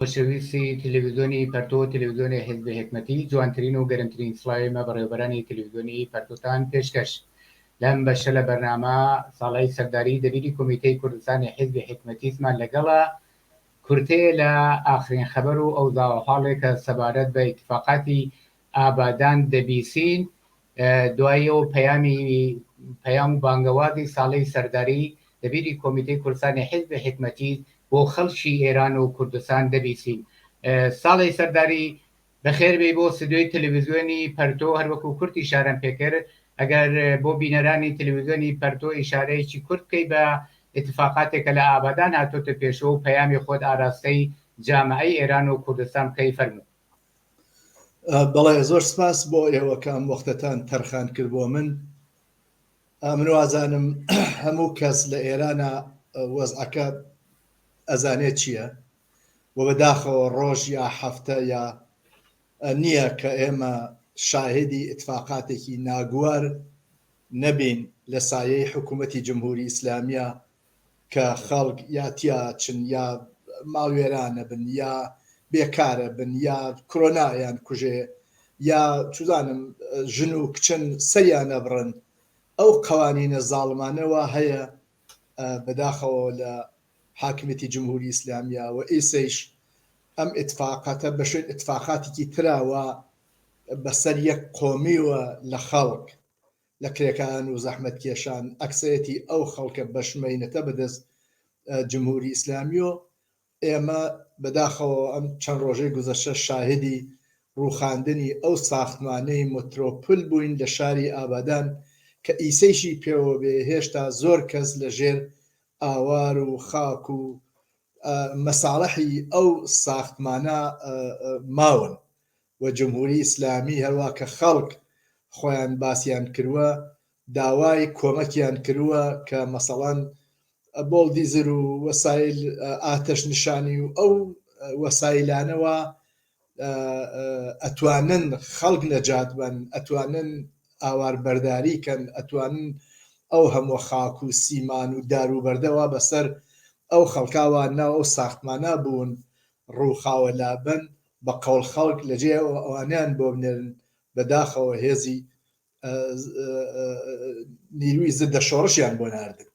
خۆشەویستی تلویزۆنی پەرتۆ تلویزۆنی حیزبی حیکمەتی جوانترین و گەرمترین سڵاوی مە بەڕێوەبەرانی تلویزۆنی پەرتۆتان پێشکەش لەم بەشە لە بەرنامە ساڵای سەرداری دەبیری کۆمیتەی کوردستانی حیزبی حیکمەتیسمان لەگەڵە کورتەیە لە ئاخرین خەبەر و ئەوزاوە حاڵێکە سەبارەت بە ئیتفاقاتی ئابادان دەبیسین دوای ئەو پەیامی پەیام و بانگەوازی ساڵەی سەرداری دەبیری کۆمیتەی کوردستانی حیزب حیکمەتی بۆ خەڵکی ئێران و کوردستان دەبیسین. ساڵەی سەرداری بەخێر بێی بۆ سدیۆی تەلەویزیۆنی پەرتۆ هەروەکو کورد ئیشارەم پێکرد ئەگەر بۆ بینەرانی تەلەویزیۆنی پەرتۆ ئیشارەیەکی کورت بکەی بە اتفاقاتێک کە لە ئابادان هاتۆتە پێشەوە و پەیامی خۆت ئاراستەی جامعەی ئێران و کوردستان بکەی فەرموو. بەڵێ زۆر سپاس بۆ ئێوە کام وەختەتان تەرخان کرد بۆ من من وازانم هەموو کەس لە ئێرانە وەزعەکە ئەزانێت چییە و بەداخەوە ڕۆژ یا هەفتە یا نییە کە ئێمە شاهدی اتفاقاتێکی ناگووار نەبین لە سایەی حکوومەتی جمهوری ئیسلامیە کە خەڵک یا تیاچن یا ماڵوێرانە بن یا بێکارە بن یا کرۆنا یان کوژێ یا چزانم ژن و کچن سەریانە بڕن ئەو قوانینە زاڵمانەوە هەیە بەداخەوە لە حاکمێتی جمهوری ئیسلامیە و ئیسەیش ئەم اتفاقاتە بەشێت اتفاقاتێکی تراوە بەسەر یەک قۆمیوە لە خەڵک لە کرێکاران و زەحمەتکێشان ئەکسەرێتی ئەو خەڵکە بەشمەینەتە بەدەست جمهوری ئیسلامی و ئێمە بەداخەوە ئەم چەند ڕۆژەی گوزەشە شاهدی ڕوخاندنی ئەو ساختمانەی مترۆپل بووین لە شاری ئابادان کە ئیسەیشی پێوە بێ هێشتا زۆر کەس لە ژێر ئاوار و خاک و مەساڵحی ئەو ساختمانە ماون و جمهوری ئیسلامی هەروا کە خەڵک خۆیان باسیان کروە داوای کۆمەکیان کروە کە مەسەڵەن بۆڵدیزر و وەسایل ئاتەش نشانی و ئەو وەسایلانەوە ئەتوانن خەڵک نەجات بن ئەتوانن ئاوار بەرداری کەن ئەتوانن ئەو هەموو خاک و سیمان و دار و بەردەوا بەسەر ئەو خەڵکاوە ناو ئەو ساختمانە بوون ڕووخاوە لابن بە قەوڵ خەڵک لە جێ ئەوە ئەوانەیان بۆ بنێرن بە داخەوە هێزی نیروی زدە شۆڕشیان بۆ ناردن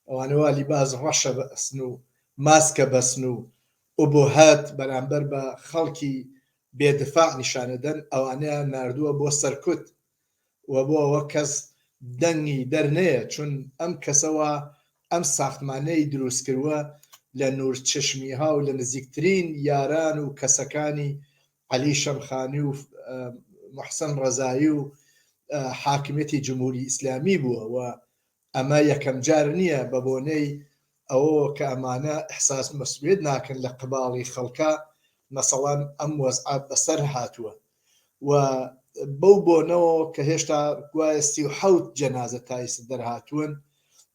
ئەوانەوە لیباز ڕەشە بە ئەسن و ماسکە بەسن و ئۆبۆهات بەرامبەر بە خەڵکی بێدفاع نیشانەدەن ئەوانەیان نردووە بۆ سەرکوت و بۆ ئەوە کەس دەنگی دەرنەیە چون ئەم کەسە وا ئەم ساختمانەی دروست کروە لە نور چشمی ها و لە نزیکترین یاران و کەسەکانی عەلی شەمخانی و محسن ڕەزایی و حاکمیەتی جمهوری ئیسلامی بوە و ئەمە یەکەم جار نییە بە بۆنەی ئەوەوە کە ئەمانە ئیحساس مەسئولیەت ناکەن لە قباڵی خەڵکا مەسەڵەن ئەم وەزعە بەسەر هاتووە و بەو بۆنەوە کە هێشتا گوایە سی و حەوت جەنازە تا ئیسە دەرهاتوون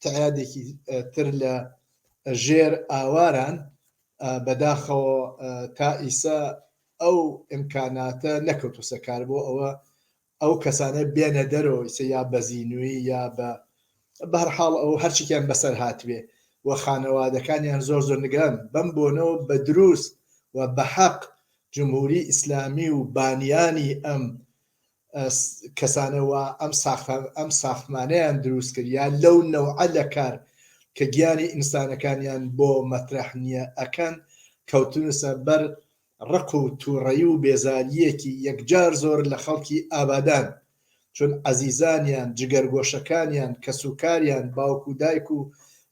تعدادێکی تر لە ژێر ئاواران بەداخەوە تا ئیسە ئەو ئیمکاناتە نەکەوتوسەکار بۆ ئەوە ئەو کەسانە بێنە دەرەوە ئیسە یا بەزینووی یا بە بەرحاڵ ئەو هەرچیکیان بەسەر هاتبێ و خانەوادەکانیان زۆر زۆر نگران بەم بۆنەوە بە دروست و بە حەق جمهوری ئیسلامی و بانیانی ئەم کەسانەوە ئەم ساختان ئەم ساختمانیان دروست کریا لەو نەوعە لە کار کە گیانی ئینسانەکانیان بۆ مەترح نییە ئەکەن کەوتنسە بەر ڕق و توڕەیی و بێزارییەکی یەکجار زۆر لە خەڵکی ئابادان، چون عەزیزانیان، جگەرگۆشەکانیان، کەسوکاریان، باوک و دایک و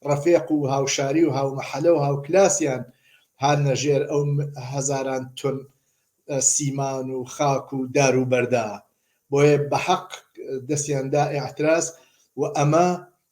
ڕەفێق و هاوشاری و هاومەحەلە و هاوکلاسیان هاننە ژێر ئەو هەزاران تۆن سیمان و خاک و دار و بەردا. بۆیە بەحەق دەستیان دا ئیعتراز و ئەمە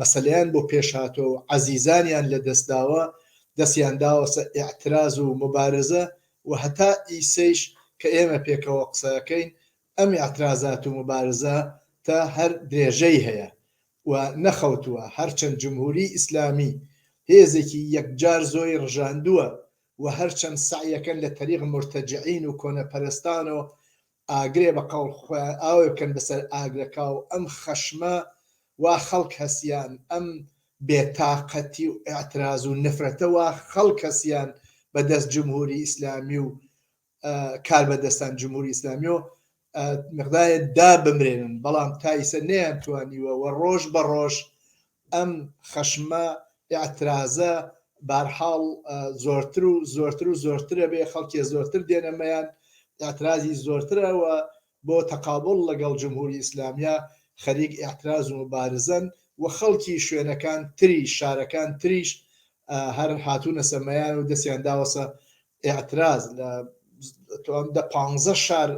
مەسەلەیان بۆ پێش هاتوە و عەزیزانیان لە دەست داوە دەستیان داوەسە ئیعتراز و موبارزە و هەتا ئیسەیش کە ئێمە پێکەوە قسەکەین ئەم ئیعترازات و موبارزە تە هەر درێژەی هەیە و نەخەوتوە هەرچەند جمهوری ئیسلامی هێزێکی یەکجار زۆری ڕژاندوە و هەرچەند سەعیەکەن لە تەریق مورتەجعین و کۆنەپەرستان و ئاگرێ بە قەوڵ خۆیان ئاوێ بکەن بەسەر ئاگرەکاو ئەم خەشمە وا خەڵک هەسیان ئەم بێ تاقەتی و ئیعتراز و نەفرەتە وا خەڵک هەسیان بە دەست جمهوری ئیسلامی و کاربەدەستان جمهوری ئیسلامیۆ مقدارێ دا بمرێنن بەڵام تا ئیسە نەیان توانیوە وە ڕۆژ بە ڕۆژ ئەم خەشمە ئیعترازە بارحاڵ زۆرتر و زۆرتر و زۆرترە بێ خەڵکێ زۆرتر دێنە مەیان ئیعترازی زۆرترەوە بۆ تەقابڵ لەگەڵ جمهوری ئیسلامیە خەریک ئیعتراز و مبارزەن و خەڵکی شوێنەکان تری شارەکان تریش هەر هاتوونەسە مەیان و دەسیان داوەسە ئیعتراز لە توام دە پانزە شار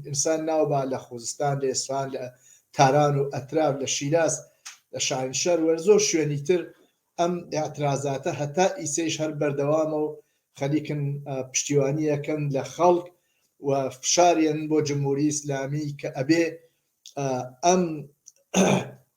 ئینسان ناوبا لە خوزستان لە ئێسفان لە تاران و ئەتراف لە شیراز لە شاهینشار وەر زۆر شوێنی تر ئەم ئاعترازاتە هەتا ئیسەیش هەر بەردەوامە و خەلیکن پشتیوانیەکەن لە خەڵک و فشاریان بۆ جمهوری ئیسلامی کە ئەبێ ئەم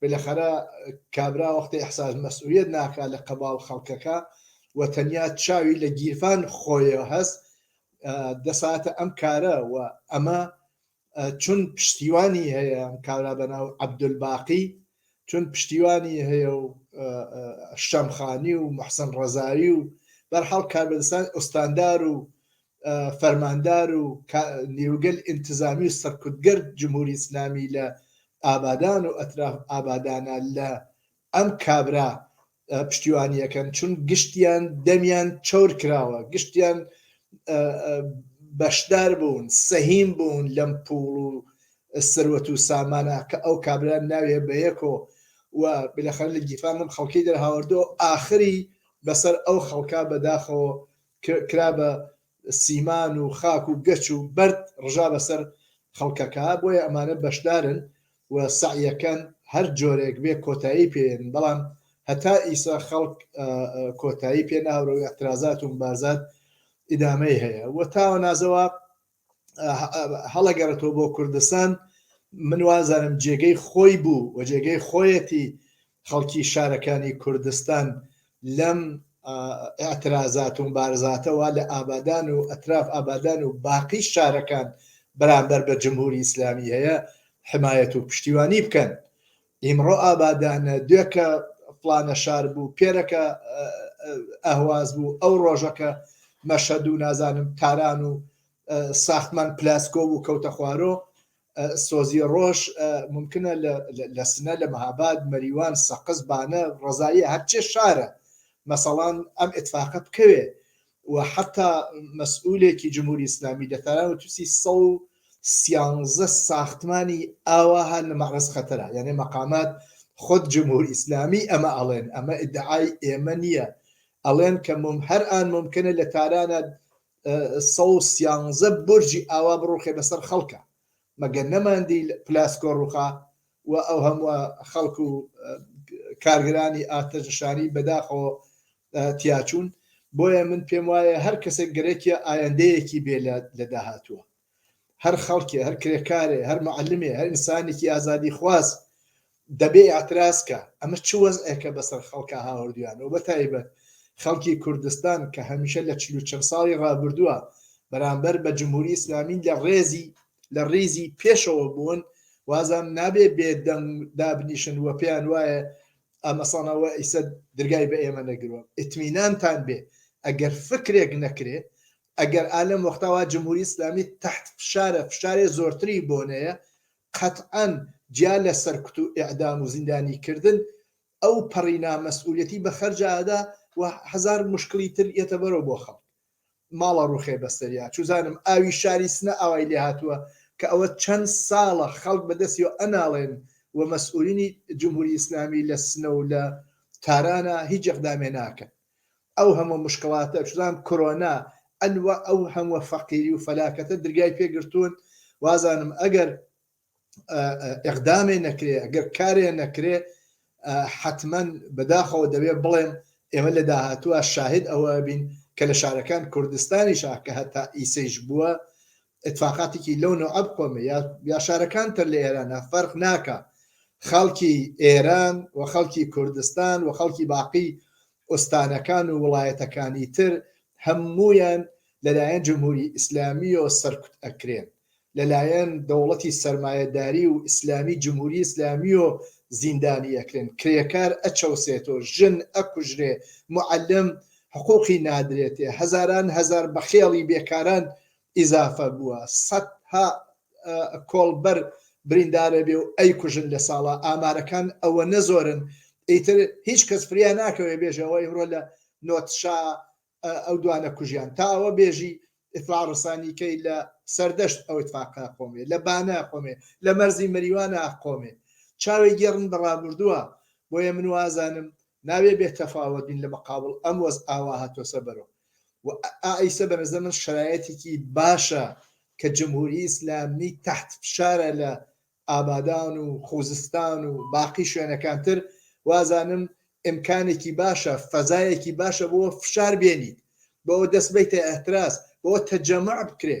بلەخەرە کابرا وەختێ احساس مەسئولیەت ناکا لە قەباو خەڵکەکە و تەنیا چاوی لە گیرفان خۆیە هەس دەساتە ئەم کارە و ئەمە چون پشتیوانی هەیە کارا بەناو عبدولباقی چون پشتیوانی هەیە و شەمخانی و محسن ڕزاوی و بەرحاڵ کاربستان ئۆستاندار و فەرماندار و نیوگەل ئینتزامی و سەرکوتگەر جمهوری ئیسلامی لە ئابادان و ئەتراف ئابادانە لە ئەم کابرا پشتیوانیەکەن چون گشتیان دەمیان چەور کراوە گشتیان بەشدار بوون سەهیم بوون لەم پوڵ و سەروەت و سامانە کە ئەو کابرا ناوێ بە یەکۆ و بلەخەر لە گیفان من خەڵکی دەرهاوردۆ ئاخری بەسەر ئەو خەڵکا بەداخەوە کرا بە سیمان و خاک و گەچ و بەرد ڕژا بەسەر خەڵکەکە بۆیە ئەمانە بەشدارن و سەعیەکەن هەر جۆرێک بێ کۆتایی پێێن بەڵام هەتا ئیسا خەڵک کۆتایی پێ ناورەوەی ئەترازات و بازات ئیدامەی هەیە و تاوە نازەوە هەڵەگەڕێتەوە بۆ کوردستان من وازانم جێگەی خۆی بوو و جێگەی خۆیەتی خەڵکی شارەکانی کوردستان لەم ئەترازات و بارزاتەوە لە ئابادان و ئەتراف ئابادان و باقی شارەکان بەرامبەر بە جمهوری ئیسلامی هەیە حمایەت و پشتیوانی بکەن ئیمڕۆ ئابادانە، دوێکە فڵانە شار بوو، پێرەکە ئەهواز بوو، ئەو ڕۆژەکە مەشهەد و نازانم تاران و ساختمان پلاسکۆ بوو کەوتە خوارۆ، سۆزی ڕۆژ ممکنە لە سنە، لە مەهاباد، مەریوان، سەقز، بانە، ڕەزاییە، هەرچێ شارە مەسەڵان ئەم ئیتفاقە بکەوێ، و حەتا مەسئولێکی جمهوری ئیسلامی لە تاران وتوسی سەد و سیانزە ساختمانی ئاوا هەن لە مەعرەز خەتەرە یانێ مەقامات خود جمهور ئیسلامی ئەمە ئەڵێن ئەمە ئیدعای ئێمە نییە ئەڵێن کە مم هەر ئان ممکنە لە تارانە سەد و سیانزە برجی ئاوا بڕوخێ بەسەر خەڵکە مەگەر نەماندی پلاس کۆڕوخا و ئەو هەمووە خەڵک و کارگرانی ئاتەشنشانی بەداخەوە تیاچوون بۆیە من پێم وایە هەر کەسێک گەرەکیە ئایندەیەکی بێ لە داهاتووە هەر خەڵکێ هەر کرێکارێ هەر معلمێ هەر ئینسانێکی ئازادی خواز دەبێ ئیعتراز کا ئەمە چ وەزعێکە بەسەر خەڵکا هاوردویانە و بەتایبەت خەڵکی کوردستان کە هەمیشە لە چل و چەند ساڵی ڕابردووە بەرامبەر بە جمهوری ئیسلامی لە ڕێزی لە ڕیزی پێشەوە بوون وازان نابێ بێ دەنگ دابنیشن و پێیان وایە ئەمەسانەوە ئیسە درگای بە ئێمە نەگرۆ ئتمینانتان بێ ئەگەر فکرێک نەکرێ ئەگەر ئالم وەختاوا جمهوری ئیسلامی تحت فشارە فشارێ زۆرتری بۆنەیە قەتعەن جیا لە سەرکوت و ئیعدام و زیندانی کردن ئەو پەڕی نا مەسئولیەتی بە خەرج ئەدا و هەزار موشکڵی تر یەتە بەرەو بۆ خەڵک ماڵ ئەڕوخێ بە سەریا چوزانم ئاوی شاری سنە ئاوای لێ هاتوە کە ئەوە چەن ساڵە خەڵک بە دەسیەوە ئەناڵێن و مەسئولینی جمهوری ئیسلامی لە سنە و لە تارانە هیچ ئیقدامێ ناکەن. ئەو هەموە مشکڵاتە چزان کرۆنا ئەنوە ئەو هەموە فەقیری و فەلاکەتە درگای پێ گرتوون وازانم ئەگەر ئقدامێ نەکرێ ئەگەر کارێ نەکرێ حتمما بەداخەوە دەبێ بڵێم ئێمە لە داهاتووە شاهد ئەوە بین کە لە شارەکان کوردستانی شاکە هەتا ئیسەیش بووە ئیتفاقاتێکی لەو نەوعە بخۆمێ یا یا شارەکان تر لە ئێرانە فەرق ناکا خەڵکی ئێران و خەڵکی کوردستان و خەڵکی باقی ئۆستانەکان و وڵایەتەکانی تر هەموویان لەلایەن جمهوری ئیسلامی و سەرکوت ئەکرێن لەلایەن دەوڵەتی سرمایهداری و ئیسلامی جمهوری ئیسلامی و زیندانی ئەکرێن کرێکار ئەچەوسێت و ژن ئەکوژرێ معلم حقوقی نادرێتێ هەزاران هەزار بەخێڵی بێکاران ئیزافە بووە سەد ها کۆڵبەر بریندارەبێ و ئەیکوژن لە ساڵا ئامارەکان ئەوەنە زۆرن ئیتر هیچ کەس فریا ناکەوێ بێژە ئەوە ئیمڕۆ لە نۆتشا ئەو دوانە کوژیان تا ئەوە بێژی ئیتلا ڕسانی کەی لە سەردەشت ئەو اتفاقا قۆمێ لە بانە قۆمێ لە مەرزی مەریوانە قۆمێ چاوێ گێڕن بە ڕابردووە بۆیە من وازانم ناوێ بێ تەفاوەت بین لە مقابڵ ئەم وەز ئاوا هاتوەسە بەرو و ئا ئیسە بە نەزەر من شەرایەتیکی باشە کە جمهوری ئیسلامی تەحت فشارە لە ئابادان و خوزستان و باقی شوێنەکان تر وازانم ئیمکانێکی باشە فەزایەکی باشە بۆ فشار بێنیت بۆ دەست بەیتە ئەهتراز بۆ تەجەمەع بکرێ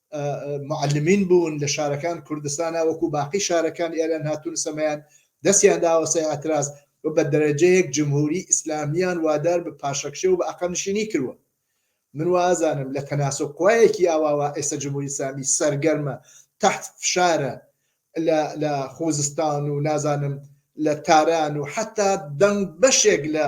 معلمین بوون لە شارەکان کوردستانا وەکو باقی شارەکان ئێران هاتون سەمایان دەستیان داوە سەر ئاتراز و بە دەرەجەیەک جمهوری ئیسلامیان وادار بە پاشەکشێ و بە ئەقە نشینی کروە من وازانم لە تەناسە قوایەکی ئاواوا ئێستا جمهوری سامی سەرگەرمە تحت فشارە لە خوزستان و نازانم لە تاران و حتا دەنگ بەشێک لە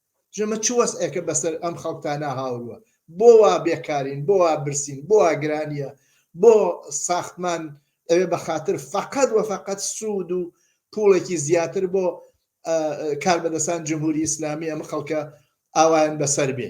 ژمە چ وەزعێکە بەسەر ئەم خەڵکتانا هاوروە؟ بۆ وا بێکارین؟ بۆ وا برسین؟ بۆ وا گرانیە؟ بۆ ساختمان ئەوێ بە خاتر فەقەت وە فەقەت سوود و پووڵێکی زیاتر بۆ کاربەدەسان جمهوری ئیسلامی ئەم خەڵکە ئاوایان بەسەر بێ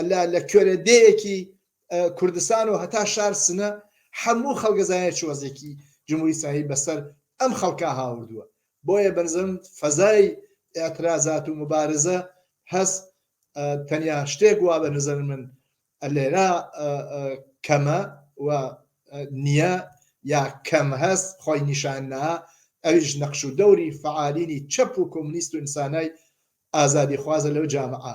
اللە لە کوێرە دێیەکی کوردستان و هەتا شار سنە حەموو خەڵگە زانێت چ وەزێکی جمهوری ئیسلامی بەسەر ئەم خەڵکە هاوردووە بۆیە بەنزم فەزای ئاعترازات و مبارزە هەست تەنیا شتێک وا بە نزەر من لێرا کەمە و نییە یا کەم هەست خۆی نیشاننا ئەویش نەخش و دەوری فعالینی چەپ و کۆمنیست و ئینسانای ئازادی خوازە لەو جامعە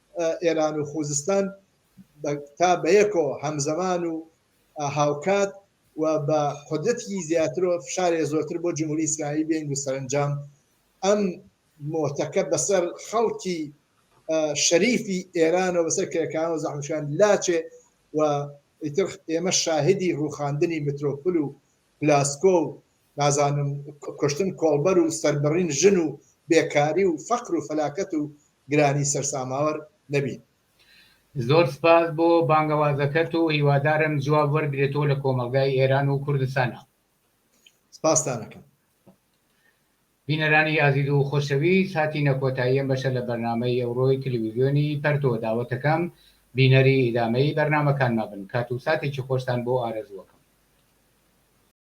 ئێران و خوزستان تا بەیەکەوە هەمزەمان و هاوکات و بە قدرەتیی زیاترەوە فشارێ زۆرتر بۆ جمهوری ئیسلامی بێن و سەرەنجام ئەم مۆتەکە بەسەر خەڵکی شەریفی ئێرانەوە بەسەر کرێکانەوە زەحمشان لاچێ و ئیتر ئێمە شاهدی ڕوخاندنی مترۆپل و پلاسکۆ و نازانم کوشتن کۆڵبەر و سەربڕین ژن و بێکاری و فەقر و فەلاکەت و گرانی سەرساماوەر نەبین. زۆر سپاس بۆ بانگەوازەکەت و هیوادارم جواب وەرگرێتەوە لە کۆمەڵگای ئێران و کوردستانا. سپاستان ئەکەم. بینەرانی ئازیز و خۆشەویست هاتینە کۆتایی ئەم بەشە لە بەرنامەی ئەوڕۆی تلویزیۆنی پەرتۆ داوەتەکەم بینەری ئیدامەی بەرنامەکانما بن کات و ساتێکی خۆشتان بۆ ئارەزوو ئەکەم.